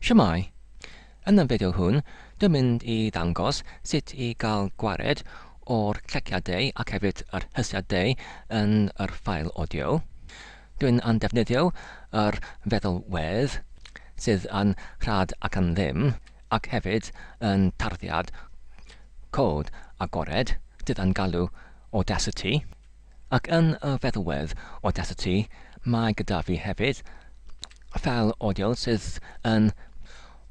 Shwmae! Yn y fideo hwn, dwi'n mynd i ddangos sut i gael gwared o'r cleciadau ac hefyd yr hysiadau yn yr ffail audio. Dwi'n yn defnyddio yr feddalwedd sydd yn rhad ac yn ddim, ac hefyd yn tarddiad cod agored sydd yn galw Audacity. Ac yn y feddwedd audacity mae gyda fi hefyd, fel audio sydd yn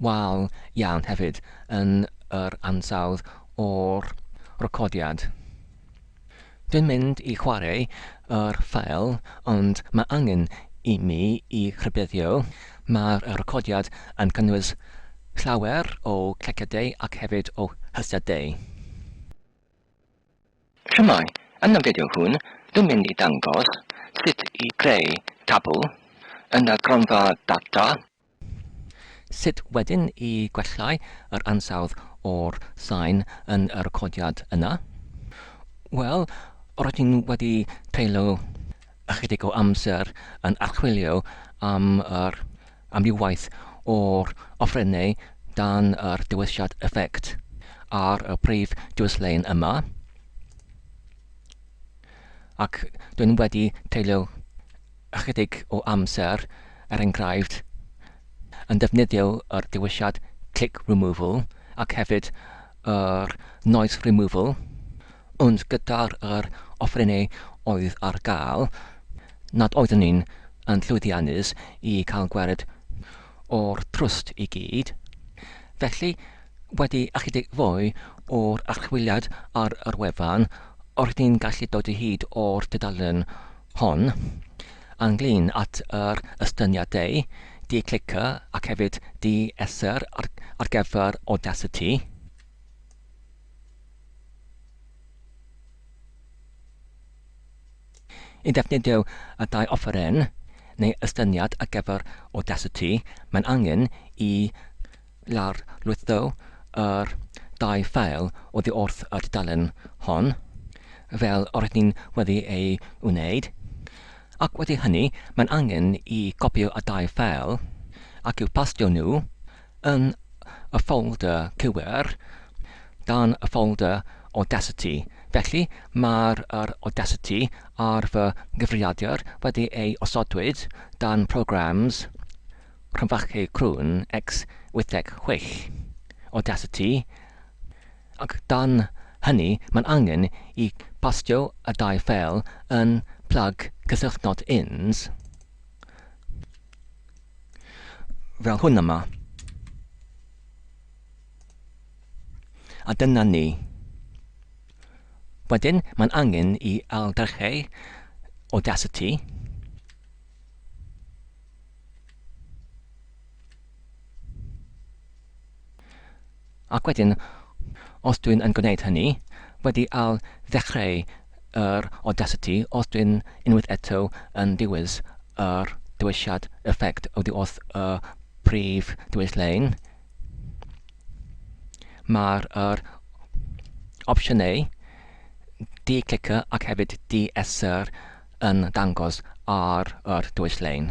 wael iawn hefyd yn yr ansawdd o'r recordiad. Dwi'n mynd i chwarae yr ffeil ond mae angen i mi i rhybuddio, mae'r recordiad yn cynnwys llawer o cleciadau ac hefyd o hysiadau. Shwmae, yn y fideo hwn dwi'n mynd i dangos sut i greu tabl yn y gronfa data. Sut wedyn i gwellhau yr ansawdd o'r sain yn y recordiad yna? Wel, rydyn wedi treulio ychydig o amser yn archwilio am yr amrywiaeth o'r offerynnau dan yr dewisiad effect ar y prif dwyslein yma ac dwi'n wedi treulio ychydig o amser, er enghraifft, yn defnyddio yr dewisiad click removal ac hefyd yr noise removal Ond gyda'r yr offerynnau oedd ar gael, nad oeddwn i'n yn llwyddiannus i cael gwared o'r trwst i gyd. Felly, wedi ychydig fwy o'r archwiliad ar yr wefan, roeddwn i'n gallu dod o hyd o'r dudalen hon, ynglŷn at yr estyniadau, di clica ac hefyd di esser ar gyfer Audacity. I ddefnyddio y ddau offeryn, neu ystyniad ar gyfer Audacity, mae'n angen i lawrlwytho yr ddau ffeil oddi wrth y dudalen hon, fel yr ydyn ni wedi ei wneud, ac wedi hynny mae'n angen i gopïo y ddau ffeil ac i'w pastio nhw yn y ffolder cywir dan y ffolder Audacity. Felly, mae'r yr Audacity ar fy nghyfrifiadur wedi ei osodwyd dan Programmes, rhyfechu crwn, x86, Audacity, ac dan hynny mae'n angen i bastio y dau ffeil yn plug cysylltnod ins. Fel hwn yma. A dyna ni. Wedyn, mae'n angen i ailddechrau Audacity. Ac wedyn, os dwi'n yn gwneud hynny, wedi ail ddechreu yr Audacity os dwi'n unwaith eto yn dewis yr dewisiad Effect oddi wrth y prif ddewis lein, mae'r yr opsiynau di-clicio ac hefyd di-esr yn dangos ar yr dewis lein.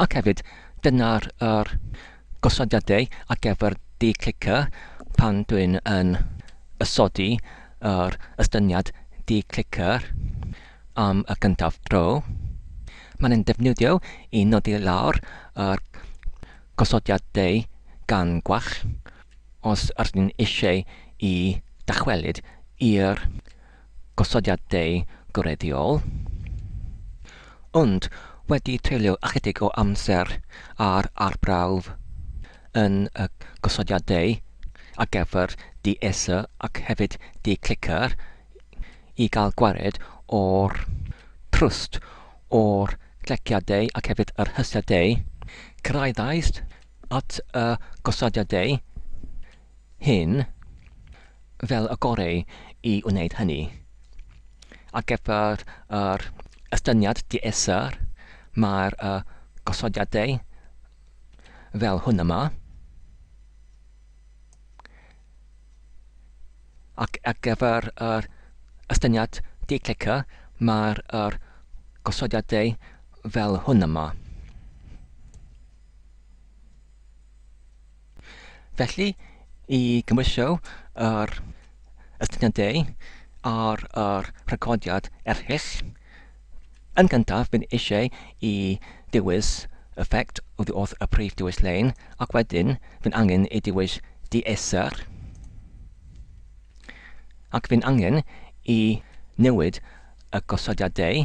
Ac hefyd, dyna'r yr gosodiadau ar gyfer di-clicio pan dwi'n yn ysodi yr ystyniad di-clicio am y gyntaf dro. Mae'n ein defnyddio i nodi lawr yr gosodiadau gan gwall os ydyn ni eisiau i ddychwelyd i'r gosodiadau gwreiddiol, ond wedi treulio ychydig o amser ar arbrawf yn y gosodiadau ar gyfer di-esu ac hefyd di-clicker i gael gwared o'r trwst o'r cleciadau ac hefyd yr hysiadau, cyrhaeddais at y gosodiadau hyn fel y goreu i wneud hynny. Ar gyfer yr estyniad di-esr, mae'r uh, gosodiadau fel hwn yma. Ac ar gyfer yr estyniad di-clicker, mae'r uh, gosodiadau fel hwn yma. Felly, i gymwysio yr astudiaethau ar yr rhagoriad erchyll, yn gyntaf bydd eisiau i dewis effect oddi wrth y prif dewis lein ac wedyn fydd angen i dewis dieser ac fydd angen i newid y gosodiadau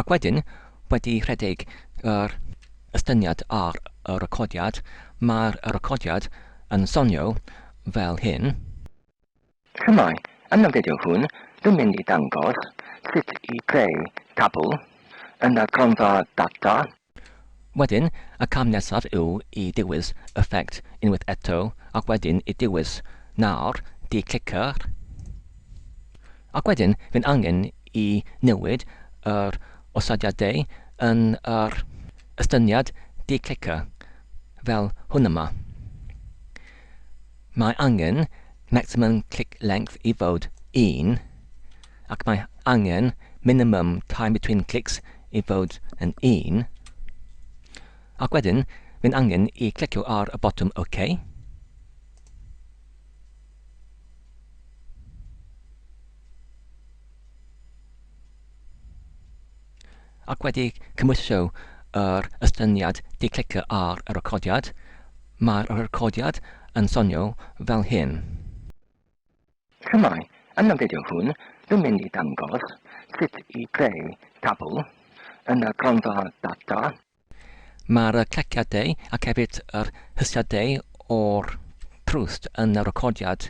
Ac wedyn, wedi rhedeg yr estyniad ar y recordiad, mae'r recordiad yn sonio fel hyn. Shwmae, yn y fideo hwn dwi'n mynd i ddangos sut i greu tabl yn y gronfa data. Wedyn, y cam nesaf yw i dywys Effect unwaith eto ac wedyn i dywys Nawr, di-cliciwch. Ac wedyn, fydd angen i newid yr osodiadau yn yr estyniad di-clicio, fel hwn yma. Mae angen Maximum Click Length i fod 1. ac mae angen minimum time between clicks i fod yn 1, ac wedyn mae'n angen i clicio ar y botwm OK. ac wedi cymhwyso yr estyniad di clicio ar y recordiad, mae'r recordiad yn sonio fel hyn. Shwmae, yn y fideo hwn dwi'n mynd i dangos sut i greu tabl yn y gronfa data. Mae'r cleciadau ac hefyd yr hysgiadau o'r trwst yn y recordiad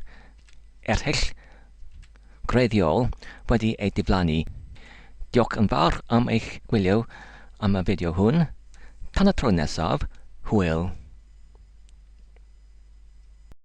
erchyll greiddiol wedi eu diflannu. Diolch yn fawr am eich gwylio am y fideo hwn. Tan y tro nesaf, hwyl!